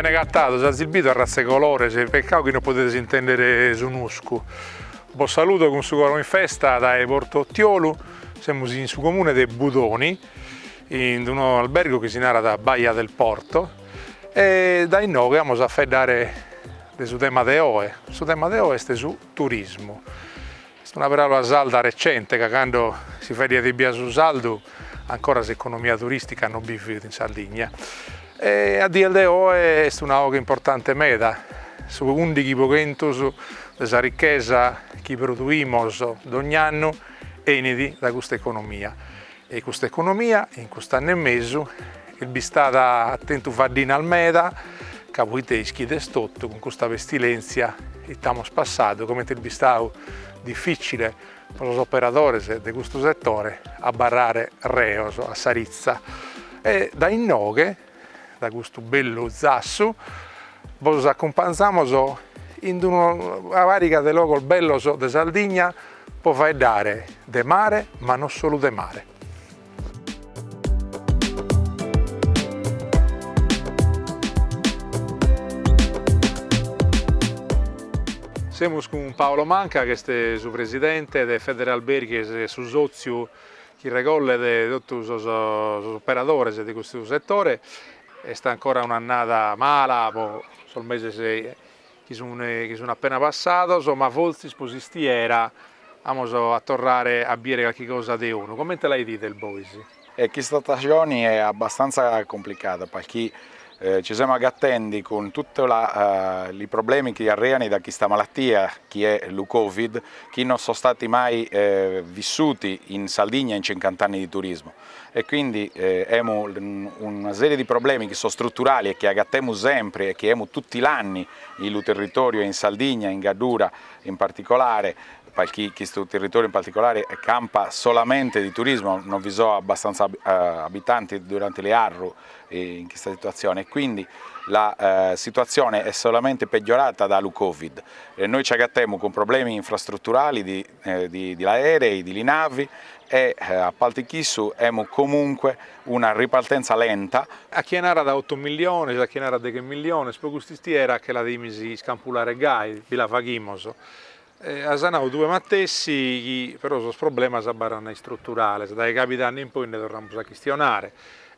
Bene agatados, azis bidu arratza 'e colores, peccau chi non podedes intendere su nuscu. Bos saludo cun su coro in festa dae Porto Ottiolu, semus in su comune de Budoni, in unu albergu chi si narat Baia del Porto e dae inoghe amus a faeddare de su tema de oe, su tema de oe est su turismu, est una paraula sarda recente ca cando si faeddaiat ebbia su sardu ancora s'economia turistica non bi fit in Sardigna e a dies de oe est una oghe importante meda, su undighi pro chentos de sa ricchesa chi produimus dogni annu 'enit dae custa economia E custa economia in cust'annu e mesu est bistada at tentu faddinas meda, ca poite ischides totu, cun custa pestilèntzia ite amus passadu, comente est bistadu dificile pro sos operadores de custu setore abarrare reos a sa ritza e dae inoghe, da custu bellu zassu bos acumpanzamos in una pariga de logos bellos de Sardigna po faeddare de mare ma non solu de mare. Semus cun Paolo Manca ch'est su presidente de Federalberghi est su sòtziu chi regollet totu sos operadores de custu setore, est ancora un'annada mala pro sos meses chi sun appena passados, ma fortzis pro s'istiera amus a torrare a bider calchi cosa de 'onu. Comente la 'idides bois? Chista stagioni è abbastantza complicada, parchì Ci semu agatendi cun tutti li problemi chi arreani da chista malatia chi è lu Covid, chi non so stati mai vissuti in Saldigna in cincant'anni di turismu e quindi emu una serie di problemi chi so struturali e chi agatemu sempri e chi emu tutti l'anni i' lu territoriu e in Saldigna, in Gaddura in particolare, palchì chistu territoriu in particolare campa solamente di turismu, non vi so abbastanza abitanti duranti lu 'arru in chista situazione e quindi la situazione è solamente peggiorata da lu Covid. Noi ci agattemu cun problemi infrastrutturali di di di l'aerei, di li navi e a palti chissu emu comunque una ripartenza lenta, A chie narat ottu milliones, a chie narat deghe milliones, pro cust'istiera che la dimis iscampulare gai, bi la faghimos, As nau tue matessi chi però sos problemas abarrant istruturales, dae cabidanni in poi nde torramus a chistionare.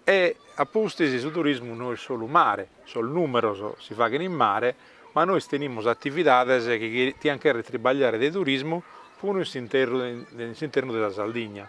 E a pustis su turismu no est solu mare, sos numeros si faghent in mare, ma nois tenimus atividades chi tiant cherrer tribagliare de turismu puru in s'internu de sa Sardigna.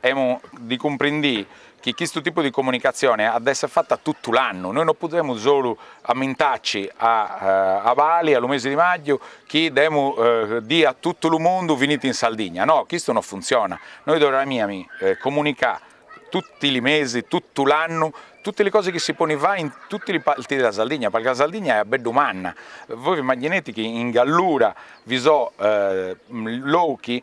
Emu di cumprindì chi chistu tipu di comunicatzione à da esse fatta tuttu l'annu, noi no pudemu solu ammintaci a abali, a lu mesi di màgiu, chi demu dì a tuttu lu mundu viniti in Sardigna, no, chistu no funziona, noi duariami comunicà tutti li mesi, tuttu l'annu, tutti li cosi chi si poni fai in tutti li parti di la Sardigna, parchì la Sardigna è abbeddu manna, voi v'immaginete chi in Gallura vi so' lochi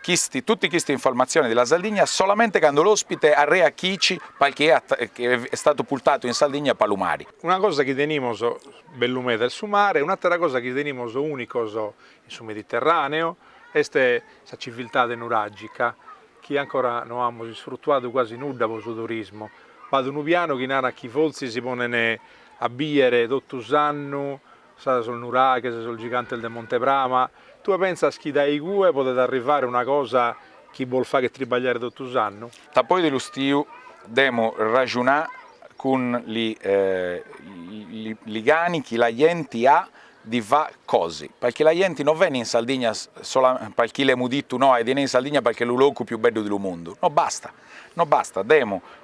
Chisti, tutti chisti informazioni di la Sardigna solamente cando l'ospite arrea chici palchi è statu pultatu in Saldigna pa lu mari. Una cosa chi tenimos bellu meda est su mare, un'attera cosa chi tenimos unicos in su Mediterraneo est sa civiltade nuragica chi ancora no amus isfrutuadu quasi nudda po su turismo. B'at unu pianu chi narat chi fortzis si ponen a bier totu s'annu Sa sos nuraghes, sos gigantes de Monte Prama, tue pensas chi dae igue podet arrivare una cosa chi bos faghet tribagliare totu s'annu? Dapoi di lu stiu, demo ragiunà cun li cani chi la jenti à di fà cosi, palchi la jenti no veni in Sardigna palchi l'emu dittu noi di 'inè in Sardigna palchi è lu locu più beddu di lu mundu, no basta, no basta, demu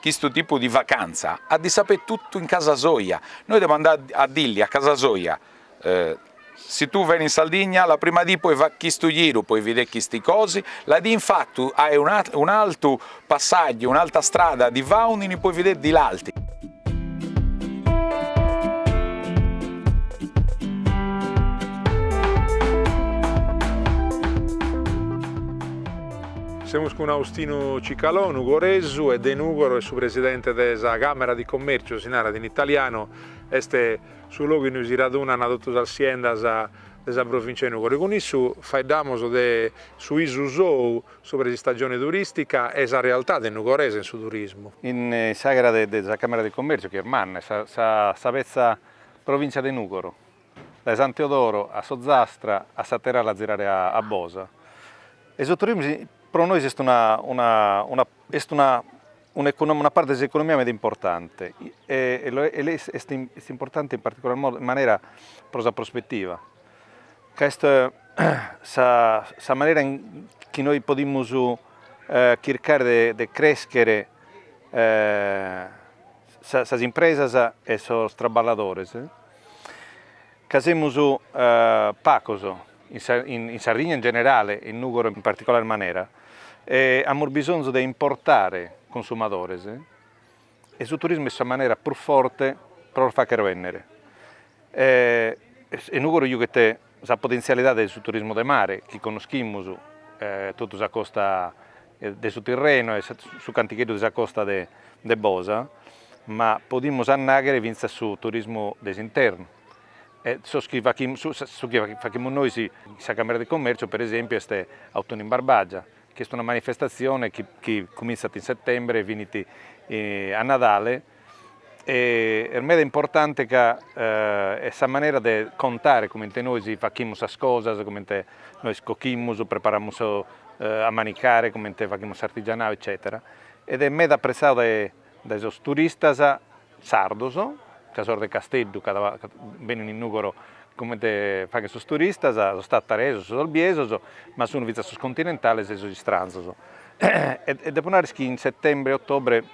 Chistu tipu di vacantza at di sapè tutu in casa soja, noi devo andà a dilli a casa soja, si tu veni in Sardigna la prima dì poi fà chistu giru, poi vidè chisti cosi, la dì in fatu ae un'altu passaggio, un'alta strada di faundini poi vidè di l'alti. Semus cun Austinu Cicalò, nugoresu e de Nùgoro e su presidente de sa Càmera di Commercio, si narat in italianu, est su logu innui si radunant totu sas siendas de sa Provincia de Nùgoro e cun issu faeddamus de su bisu sou subra s'istaggione turistica e sa realtade nugoresa in su turismu. In s'aghera de sa Càmera di Commercio, chi est manna, sa petza Provincia de Nùgoro, dae Santeodoro a s'Ozastra a s'àter'ala a zirare a Bosa. E su turismu pro nois est una una una est una una economia una parte de s'economia meda importante e est est importante in particular modu, manera pro sa prospettiva, ca est sa sa manera chi nois podimus chircare de de crescher sas impresas e sos traballadores, ca semus pagos in Sardigna in generale, in Nùgoro in particolare manera, e amus bisonzu de importare cunsumadores, e su turismu est sa manera prus forte pro los fàghere bènnere, e Nùgoro iughet Sa potentzialidade de su turismu de mare chi connoschimus totu sa costa de su Tirrenu e su cantigheddu de sa costa de Bosa, ma podimus annaghere fintzas su turismu de s'internu e sos chi su chi faghimus nois in sa Camera di Commercio per esempiu est Autunnu in Barbagia chi est una manifestazione chi chi comintzat in settembre e finit a Nadale Est meda importante ca est sa manera de contare comente nois faghimus sas cosas, comente nois coghimus, preparamus a manicare, comente faghimus s'artigianau eccètera. Ed est meda apprezzadu dae dae sos turistas sardos, ca sos de Casteddu chi benint in Nùgoro comente faghen sos turistas, sos tataresos, sos olbiesos, ma sun fintzas sos continentales e sos istranzos e depo narrer chi in settembre e ottobre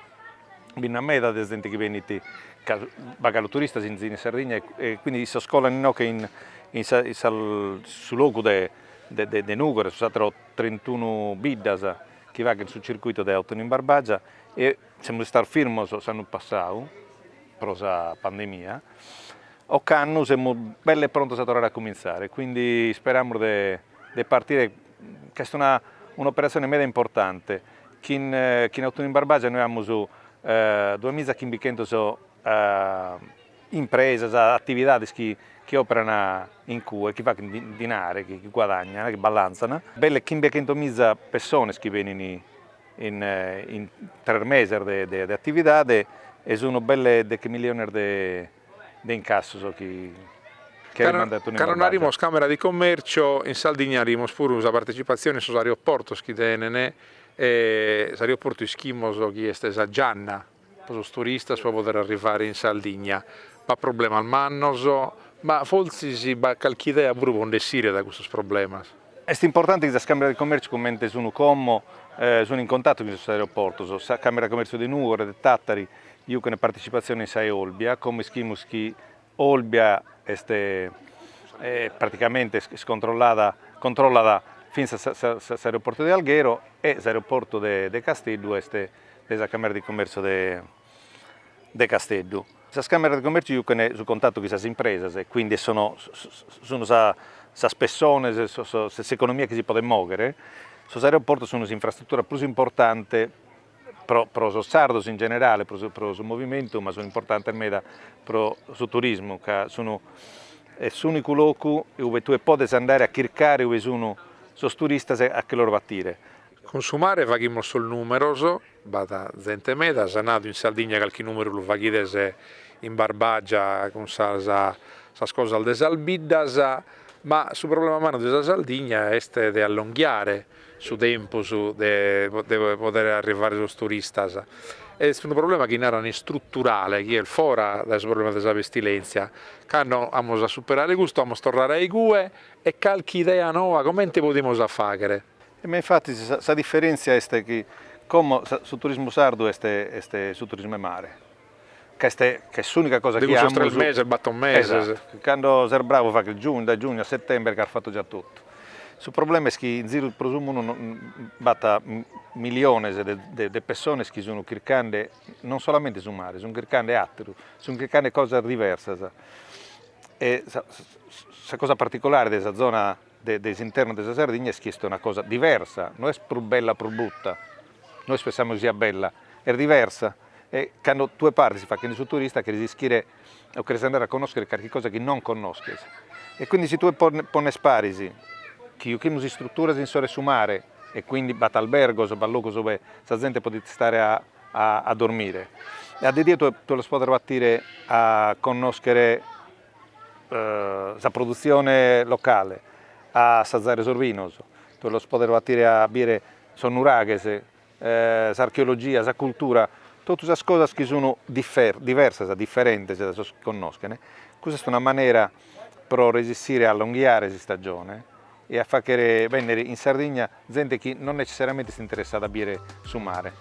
bi nd'at meda de zente chi benit galu turistas in in Sardigna e quindi issos colan inoghe in in sa in sas su logu de de de Nugoro e sas atteras trentunu biddas chi faghen su circuito de Autunnu in Barbagia e semus istados firmos s'annu passadu pro sa pandemia, ocannu semus belle prontos a torrare a cominzare e quindi isperamus de de partire ca est una un'operatzione meda importante, chi in in Autunnu in Barbagia nois amus duas miza e chimbichentos impresas, atividades chi chi operan in cue, chi faghent dinari, chi guadagnana, chi ballanzan, belle chimbechentos miza pessones chi benin in in tres meses de de atividade e sun belle deche milliones de de incassu sos chi cherent mandare Autunnu in Barbagia. Cando naramos Càmera di Commercio, in Sardigna naramos puru sa partecipatzione in sos aeroportos chi tenent, e s'aeroportu ischimos chi est sa gianna pro sos turistas pro poder arrivare in Sardigna, b'at problemas mannos, ma fortzis b'at calchi idea puru pro nd'essire dae custos problemas? Est importante chi sas càmeras de comèrtziu comente sun como sunt in contatu cun sos aeroportos. Sa Càmera de Comèrtziu de Nùgoro, de Tàtari, juchen partecipazione in sa 'e Olbia, como ischimus chi Olbia est praticamente est controllada controllat fintzas s'aeroportu de Alghero e s'aeroportu de Casteddu est de sa Càmera de Comèrtziu de de Casteddu. Sas Càmeras de Commèrtziu jucant su contatu chin sas impresas e quindi sunt sas pessones, s'economia chi si podet mòghere. Sos aeroportos sunt s'infrastrutura prus importante pro pro sos sardos in generale, pro pro su movimentu, ma sunt importantes meda pro su turismu, ca sun est s'ùnicu locu ue tue podes andare a chircare ue sun sos turistas a che los batire Cun su mare faghimus sos numeros, b'at zente meda, s'at nadu in Sardigna calchi numeru lu faghides in Barbagia cun sas cosas de sas biddas, ma su problema mannu de sa Sardigna est de allonghiare su tempus de podere arrivare a sos turistas, est unu problema chi naran istruturale chi est fora dae su problema de sa pestilenzia, cando amus a superare custu amus torrare a igue e calchi idea noa comente podimus a faghere. Ma infatis sa diferentzia est chi como su turismu sardu est est su turismu 'e mare, ca est ca est s'unica cosa chi amus. De cussos tres meses, bator meses. Esatu, cando ses bravu faghes giugnu, dae giugnu a settember ch'as fatu già totu. Su problema est chi in ziru pro su mundu b'at miliones de de pessones chi sun chircande non solamente su mare, sun chircande atteru, sun chircande cosas diversas e sa cosa particulare de sa zona de s'internu de sa Sardigna est chi est una cosa diversa, no est prus bella prus bruta, nois pensamus chi siat bella, est diversa e cando tue partis faghende su turista cheris ischire o cheris andare a connoschere carchi cosa chi non connosches e quindi si tue pones paris chi jochimus istruturas in s'oru 'e su mare e quindi b'at albergos, b'at logos ue sa zente podit istare a dormire e a de die tue los podes batire a connoschere sa produtzione locale, a assazare sos binos, tue los podes batire a bire sos nuraghes, s'archeologia, sa cultura, totu sas cosas chi sun diversas, diferentes dae sos chi connoschen, custa est una manera pro resessire a allonghiare s'istaggione e a faghere bènnere in Sardigna zente chi non necessariamente est interessada a bìere su mare.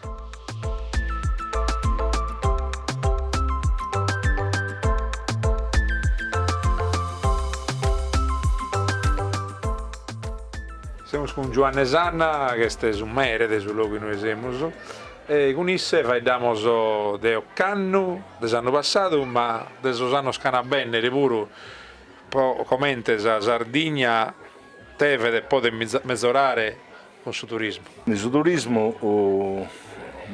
Semus cun Giuanne Sanna, chi est su mere de su logu inue semus, e cun isse faeddamus de ocannu, de s'annu passadu, ma de sos annos ch'an a bènnere puru, Pro comente sa Sardigna devet e podet mezorare cun su turismu? In su turismu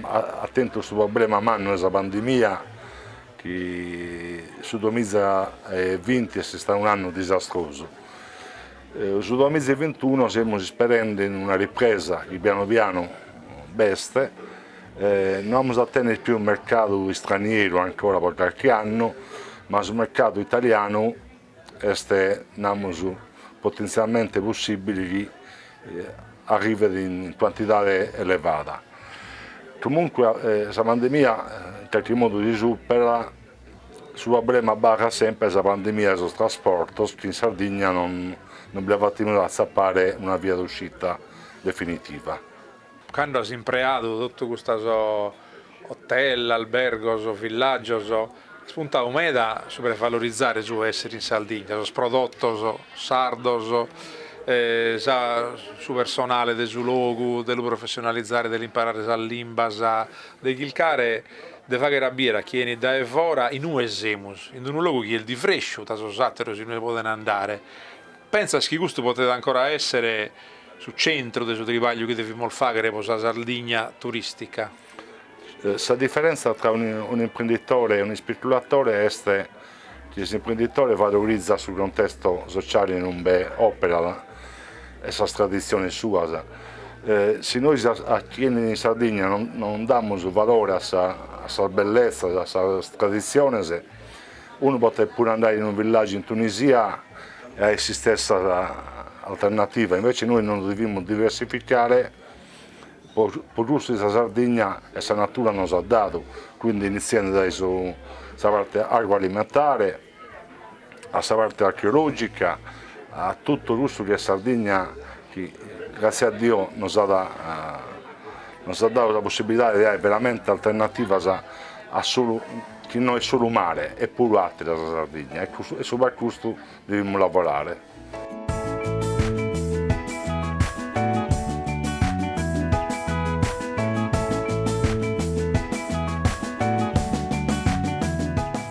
at tentu su problema mannu 'e sa pandemia chi su duamiza e vinti est istadu un'annu disastrosu. Su duamiza e vintunu semus isperende in una ripresa chi pianu pianu b'est No amus a tenner pius mercadu istranieru ancora pro carchi annu, ma su mercadu italianu est, namus, potentzialmente possibile chi arrivet in cuantidade elevada. Comunque sa pandemia in carchi modu si superat, su problema abarrat sempre sa pandemia de sos trasportos chi in Sardigna non bi la faghimus a atzappare una via d'uscita definitiva. Cando as impreadu totu custos hotel, albergos, villaggios, as puntadu meda subra de valorizare su èssere in Sardigna, sos prodotos sardos, sa su personale de su logu, de lu professionalizare, de l'imparare sas limbas, de chilcare de faghere a biere a chie enit dae fora inue semus, in d'unu logu chi est diversu da sos ateros inue poden andare. Pentzas chi custu potet ancora èssere su centru de su tribagliu chi devimus fàghere pro sa Sardigna turìstica? Sa diferentza tra un'imprenditore e un'ispeculatore est chi s'imprenditore valorizat su contestu sociale in unbe òperat e sas traditziones suas. Si nois a chie enit in Sardigna non damus valore a sas belletzas, a sas traditziones, Unu potet puru andari in unu villàgiu in Tunisia e at s'istessa alternativa, invece nois nos devimus diversificare po cussu chi sa Sardigna e sa natura nos at dadu, quindi initziende dae sa parte agroalimentare a sa parte archeològica, a totu cussu chi est Sardigna chi gràtzia a Dio nos at nos at dadu sa possibilidade de ai veramente alternativas a solu chi no est solu mare est puru àteru sa Sardigna e subra custu devimus lavorare.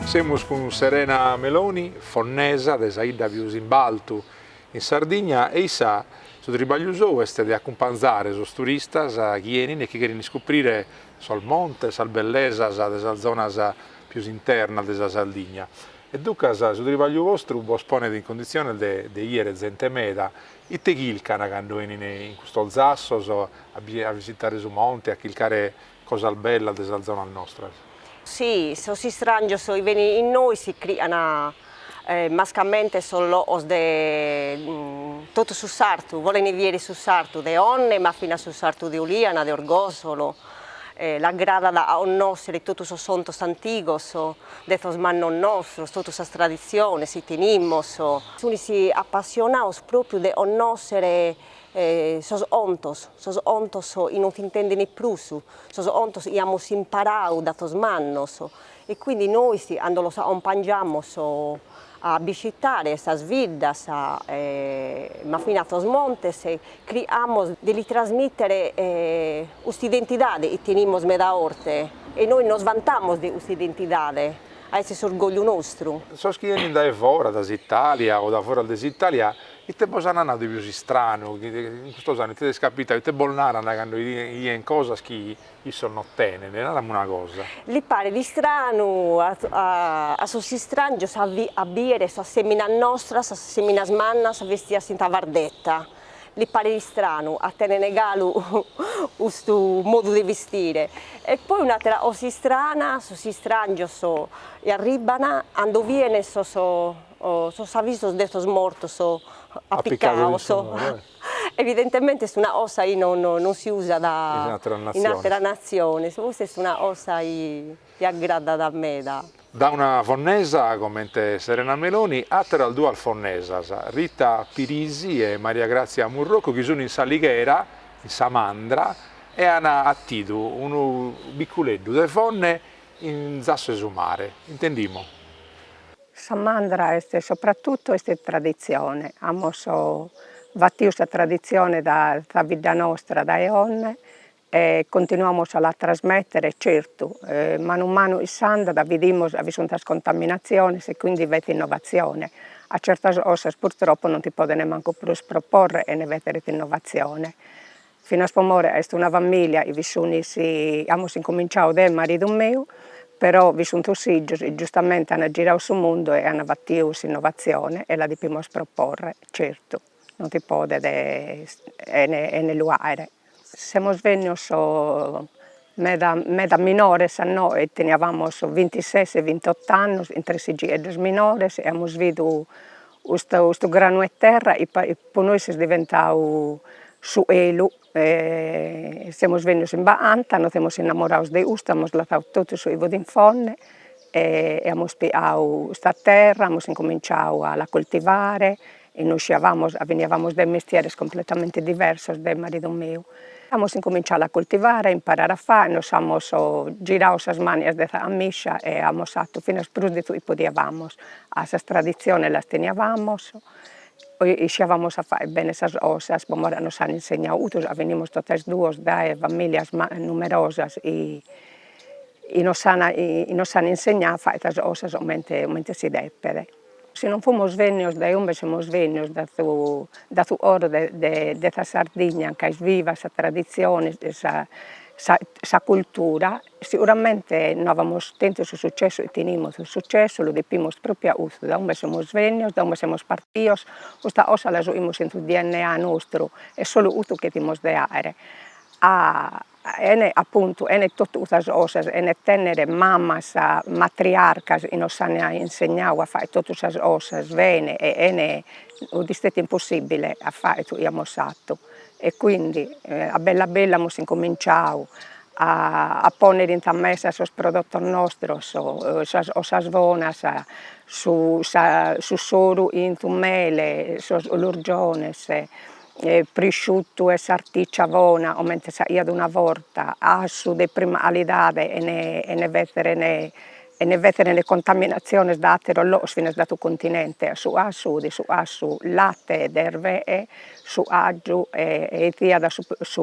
Semus cun Serena Meloni, fonnesa de sa 'idda pius in baltu, In Sardigna e issa, su tribagliu sou est de acumpanzare sos turistas chi 'enin e chi cheren iscuprire sos montes, sas bellesas de sas zonas pius internas de sa Sardigna. E ducas su tribagliu vostru bos ponet in conditziones de de 'iere zente meda. Ite chilcan cando 'enin in custos zassos a a visitare su monte, a chilcare Cosas bellas de sas zonas nostras. Si, sos istràngios chi benin innoi chircant mascamente sos loos de totu su sartu, bolent vieri su sartu de Onne ma finas su sartu de Oliana, de Orgosolo, l'agradat a onnoschere totu sos 'ontos antigos de sos mannos nostros, totu sas tradiziones 'i tenimmos. Sunis appassionados propriu de onnoschere sos ontos, sos ontos chi non s'intendene prus, sos ontos chi amus imparadu da sos mannos e quindi nois cando los acompangiamos a biscitare sas viddas ma finas sos montes criamos de li trasmitere custa identidade chi tenimus meda orte e nois nos vantamos de custa identidade, ca est s'orgogliu nostru. Sos chi 'enint dae foras, da s'Italia o da foras de s'Italia, Ite bos ant nadu de pius istranu, in custos annos ite t'est capitadu, ite bos narant cando 'idient cosas chi issos no tenent, narami una cosa. Li paret istranu a sos istràngios a bìdere sas èminas nostras, sas èminas mannas bestidas in sa bardeta, li paret istranu a tenere galu custu modu de bistire, e poi un'atera cosa istrana, sos istràngios arribban cando bient sos o sos avisos de sos mortos appicados, evidentemente est una cosa chi non non si usat in atteras natziones, custa est una cosa chi aggradat meda. Dae una fonnesa comente Serena Meloni, atteras duas fonnesas, Rita Pirisi e Maria Grazia Murrocu chi sun in s'Alighera, in sa Mandra, e an attidu unu bicculeddu de Fonne in zasso 'e su mare, intendimo. Sa Mandra est sopratutu est traditzione, amus batiu sa traditzione dae sa bidda nostra dae 'onne e continuamus a la trasmettere, certu manu manu chi s'andat bidimus ca bi sunt sas contaminatziones e quindi b'est innovatzione, ca certas cosas purtroppo non si podene mancu prus proporre 'ene b'èssere innovatzione Finas po more est una familia, chi bi sunis amus incominciadu deu e maridu meu, però bi sun sos fìgios, giustamenti an giradu su mundu e an batiu s'innovatzione e la depimos proporre, certu non si podet 'ene lu àere. Semus bennios meda meda minores a inoe, teniavamos vintises e vintot'annos, chin tres figgieddos minores e amus bidu Custu custu granu 'e terra pro nois est diventadu su 'elu e semus bennidos in ba'antza, nos semus innamorados de custu, amus lassadu totu su chi fut in Fonne e e amus pighadu custa terra, amus incominciadu a la coltivare e non isciabamus, beniabamus dae mestieres completamente diversos deo e maridu meu Amus incominciadu a coltivare, a imparare a fai, nos amus giradu sas mànias de sa 'amiscia e amus fatu finas prus de su chi podiamus, ca sas traditziones las teniamus e isciamus a fai bene sas cosas, po more ca nos an insegnadu custu, ca benimus totu e duos dae familias numerosas chi chi nos an insegnadu a fai sas cosas comente comente si depet Si non fumos vennios dae umbe semus vennios dae su dae su coro de de de sa Sardigna anca est viva sa tradizione e sa sa sa cultura, seguramente no avamos tentu su successu chi tenimus, su successu lu depimus propriu a custu, dae umbe semus vennios, dae umbe semus partios, custa cosa la juimus in su dna nostru, est solu custu chi fimos de aer a 'ene appuntu 'ene totu custas cosas, 'ene tenner mammas matriarcas chi nos an insegnau a fagher totu sas cosas bene e 'ene 'udi istètiu impossibile a fagher su chi amus fatu e quindi a bella bella amus incominciau a a ponner in sa mesa sos prodotos nostros 'osas 'osas bonas su sa su soru 'in su mele sos 'ulurgiones e prisciutu e sartìcia bona comente si 'aiat una borta, 'asu de prima calidade 'ene 'ene fezere ne 'ene fezere ne contaminatziones dae atteros logos finas dae su continente, su 'asu 'udi su 'asu latte de erve'e, su 'agiu e e essiat su su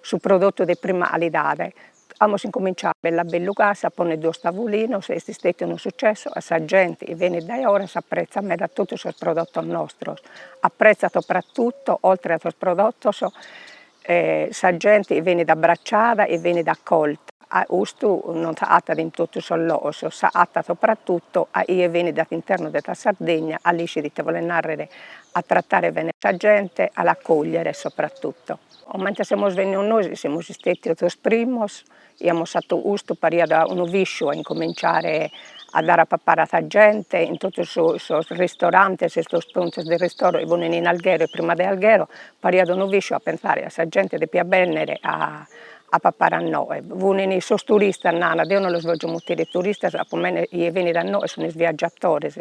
su prodottu de prima calidade Amus incominciau bell'a bellu casa a ponner duos tavulinos est stetiu unu sucessu 'a sa gente benit dae 'oras apretzat meda totu sos prodotos nostros apretzat sopratuto oltre a sos prodotos sa gente benit abbracciada e benit accolta 'a custu non s'agattat in totu sos logos s'agattat sopratuto a 'ie benit dae s'internu de sa Sardegna 'a l'iscit ite bolet narrer a trattare bene sa gente a l'acogliere sopratuto. Comente semus bennios nois semus istètidos sos primos, 'i amus 'atu custu pariat unu visciu a incominciare a dare a papare a sa gente in totu sos sos ristorantes e sos puntos de ristoro chi funin in alghero e prima de alghero, pariat unu visciu a pensare 'a sa gente depiat bennere a a papare a noe, funini sos turistas nana, deo non los vogio mutire turistas, comente chie benit a noe sunis viaggiatores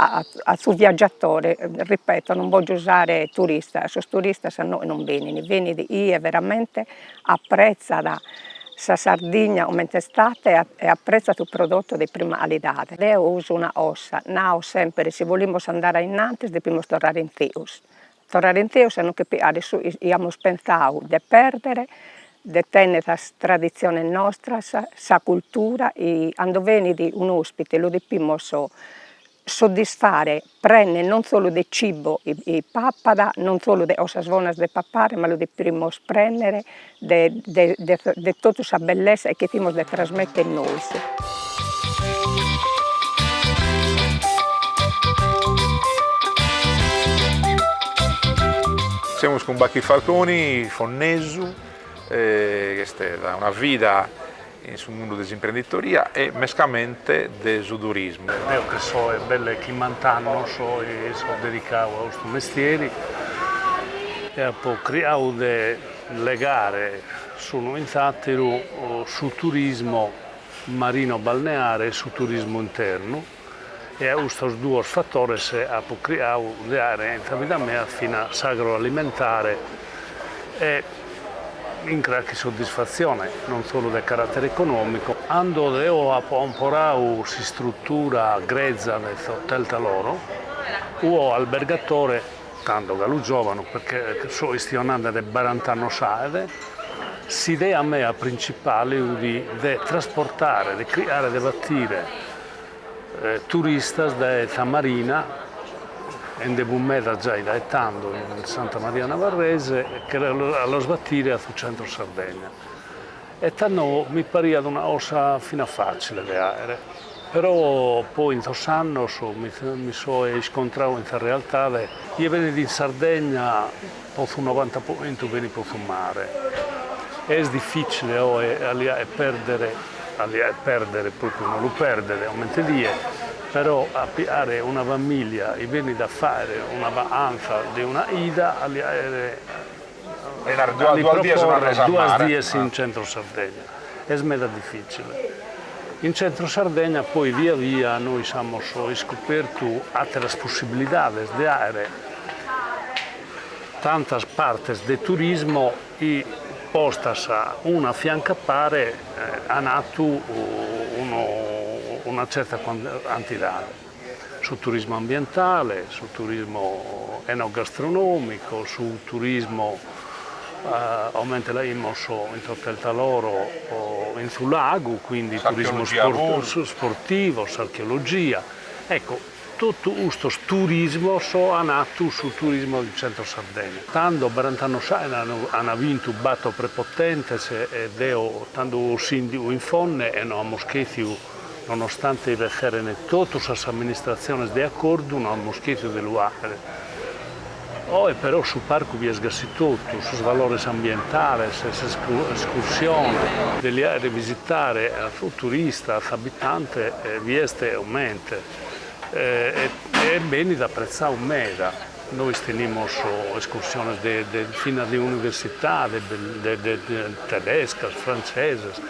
a a su viaggiatore, ripeto non bogio usare turista, sos turistas a nois non benini, benit chie veramente apprezzat sa Sardigna comente istat e apprezzat su prodotto de prima calidade. Deo uso una 'osa, nao sempre si bolimus andare a innantis depimus torrare in se'us, Torrare in se'us a no che a de su 'i amus pentzau de perdere, de tenner sas tradiziones nostras, sa cultura, i cando benit un'ospite lu depimus soddisfare prenner non solu de cibo 'i pappat, non solu de cosas bonas de papare, ma lu depimus prenner de de de de totu sa bellezza e chi fimus de trasmetter nois. Semus cun Bachi Falconi, fonnesu, ch'est una vida in su mundu de s'imprenditoria e mescamente de su turismu. Deo chi so est belle chimmant'annos chi so dedicadu a custu mestieri e apo cricadu de legare s'unu in s'àteru su turismo marino-balneare e su turismu internu. e a custos duos fatores apo cricadu de faere in sa vida mea fina s'agroalimentare e chin carchi soddisfatzione, non solu de caratere econòmicu. Cando deo apo comporadu s'istrutura greza de s'hotel Taloro, fui albergatore, tando galu giòvanu, perche so chistionande de barant'annos faet, s'idea mea printzipale fut de trasportare, de criare, de batire, Turistas dae sa Marina e nde bi fut meda giai dae tando in Santa Maria Navarrese che a los batire a su centro Sardegna. E tando mi pariat una cosa fina facile de faere. Però poi in sos annos mi so iscontradu in sa realtade, chie benit in Sardegna, Po su novanta po chentu benit po su mare. Est dificile oe a li faere perdere, a li faere perdere propriu no lu perdere comente die, però a pigare una familia chi benit a faere una vacanza de una chida a li faere, a li proporre duas dies in centro Sardegna. est meda difìtzile. In Tzentru Sardegna poi via via nois amus iscopertu àteras possibilidades de faere tantas partes de turismo chi postas una a fiancu a pare ant fatu una tzerta cantidade. su turismu ambientale, su turismu enogastronòmicu, su turismu comente lu faimus in s'hotel Taloro in su lagu, quindi turismu sportivo, s'archeologia, ecco totu custos turismos an fatu su turismo de centro Sardegna. Tando barant'annos faet an bintu bator prepotentes e deo tando fui sìndigu in Fonne e no amus chetziu Nonostante b'esserent totu sas amministratziones de acordu no amus chètidu de lu fàghere. Oe però su parcu bi est gasi totu, sos valores ambientales, sas escursiones, de li faere visitare a su turista, a s'abitante bi est e comente e benit apretzadu meda. Nois tenimus escursiones de finas de universidades tedescas, frantzesas.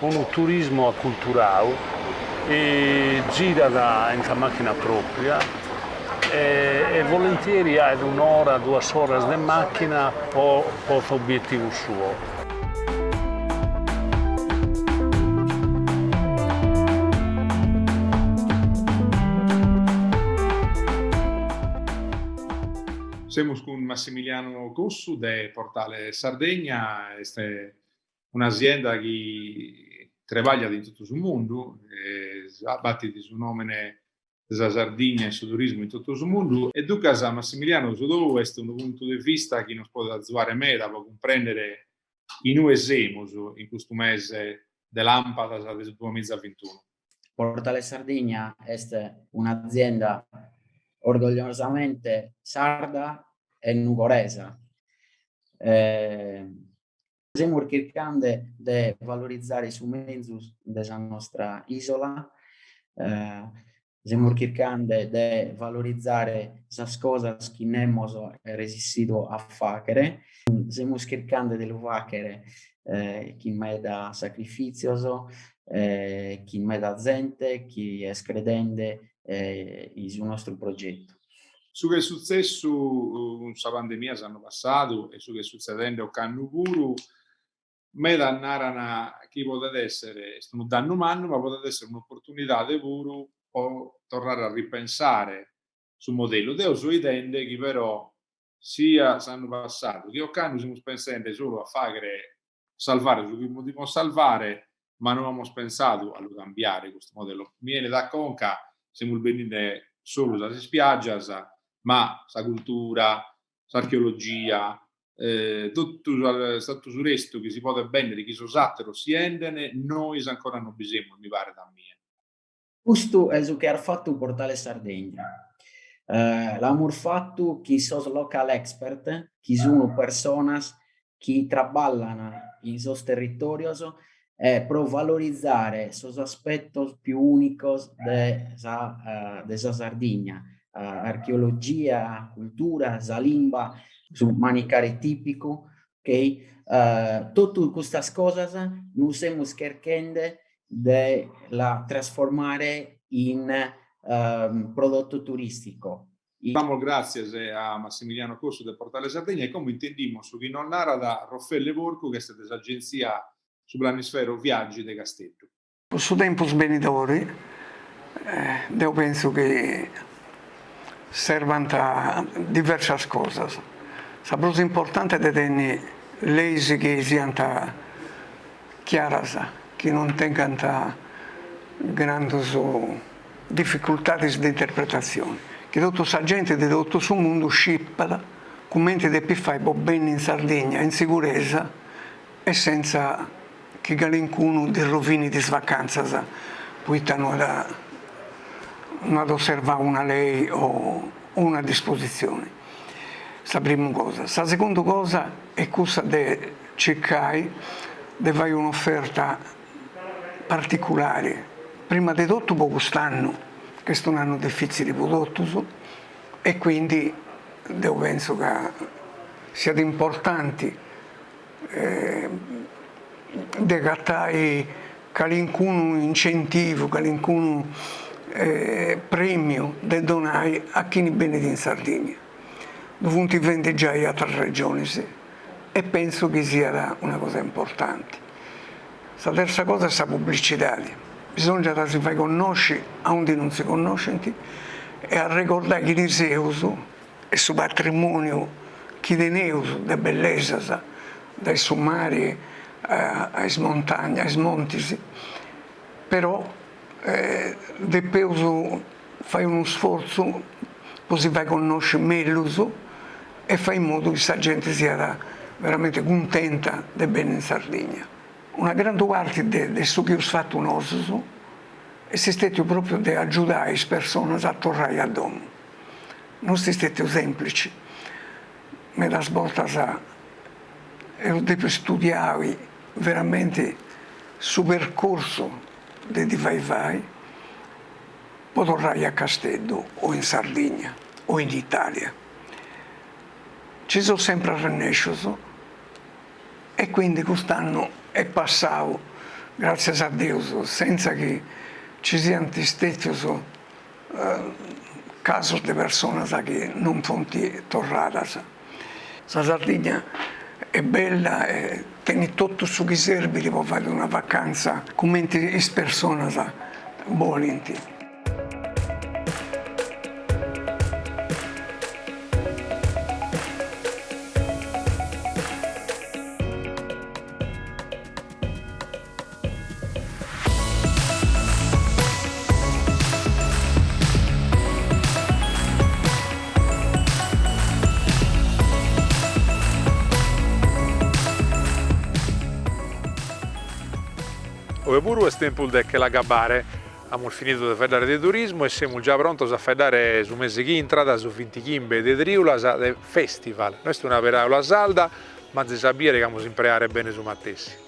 Unu turismu aculturau, girat in sa màchina pròpria e volentieri faet un'ora, duas oras de màchina po s'obietivu suo. Semus cun Massimiliano Cossu de Portale Sardegna, est un'asienda chi trebagliat in totu su mundu, batit su nomene de sa Sardigna in su turismu in totu su mundu, e duncas Massimiliano su tou est unu puntu de vista chi nos podet azuare meda po cumprendere in ue semus in custu mese de lampadas de su duamiza bintunu. Portale Sardigna est un'azienda orgogliosamente sarda e nugoresa, Semus chircande de valorizare su menzus de sa nostra isola, semus chircande de valorizare sas cosas chi nemos est resissidu a faghere, semus chircande de lu faghere chin meda sacrifizios e chin meda zente chi est credende in su nostru progetu. Su chi est sutzessu cun sa pandemia s'annu passadu e su chi est sutzedende ocannu puru, medas naran chi podet èssere, est unu dannu mannu, ma podet èssere un'oportunidade puru pro torrare a ripensare su modellu. Deo so 'idende chi però sia s'annu passadu, chi ocannu semus pensende solu a fàghere, salvare su chi podimus salvare, ma no amus pensadu a lu cambiare custu modellu. Mi 'enit a conca, semus bendende solu sas ispiàgias, ma sa cultura, s'archeologia, totu totu su restu chi si podet bèndere, chi sos àteros si 'endene, nois ancora non bi semus, mi paret a mie. Custu est su chi at fatu Portale Sardegna. L'amus fatu chin sos local expert chi sunu personas chi traballan in sos territorios e pro valorizare sos aspetos più unicos de sa de sa Sardigna, archeologia, cultura, sa limba, su manicare tipicu, Totu custas cosas nos semus cherchende de la trasformare in prodottu turisticu. Damos gràtzias a Massimiliano Cossu de Portale Sardegna e como intendimus su chi nos narat Raffaele Porcu chi est de s'Agenzia Su Planisfero Viaggi de Casteddu. Po su tempus benidori deu pentzu chi serbant diversas cosas, sa prus importante de tenni leis chi siant chiaras, chi non tengant grandus dificultadis de interpretatzioni, chi totu sa genti de totu su mundu scipat cumenti depit fai po benni in Sardigna in siguresa, e senza chi calincunu ddis rovinit is vacantzas poita no at osservau una lei o una dispositzioni, sa primu cosa, sa segundu cosa est cussa de circai de fai un'oferta particulari, prima de totu po cust'annu chi est un'annu difitzili po totus e quindi deu pentzu ca siat importanti de agatai calincunu incentivu, calincunu premiu de donai a chini benit in Sardigna, ddu funt fendi giai atras regionis e pentzu chi siat una cosa importanti. Sa terza cosa est sa publicidadi, bisòngiat a si fai connosci aundi non si connoscint e arregordai chi ddi seus e su patrimòniu chi teneus de bellesas, dae su mari a is montagnas, a is montis, però depeus fai unu sfortzu po si fai connosci mellus e fai in modu chi sa genti siat veramenti cuntenta de benni in Sardigna. Una grandu parti de su chi eus fatu nosus est stètiu pròpriu de agiudai is personas a torrai a domu. non est stètiu sèmplici, medas bortas eus dèpiu istudiai veramenti su percorsu de ddi fai fai po torrai a Casteddu o in Sardigna o in Italia, ci seus sempri arrennescius e quindi cust'annu est passau, gràtzias a Deus, sentza chi ci siant stètius casos de personas chi non funt torradas. Sa Sardigna est bella e tenit totu su chi serbit po fai una vacanza cumenti is personas bolint. Oe puru est tempus de che l'agabbare. Amus finidu de faeddare de turismu e semus già prontos a faeddare su mese chi intrat, su bintichimbe de triulas de festival. No est una peràula sarda, ma azis a bìere chi l'amus a impreare bene su matessi.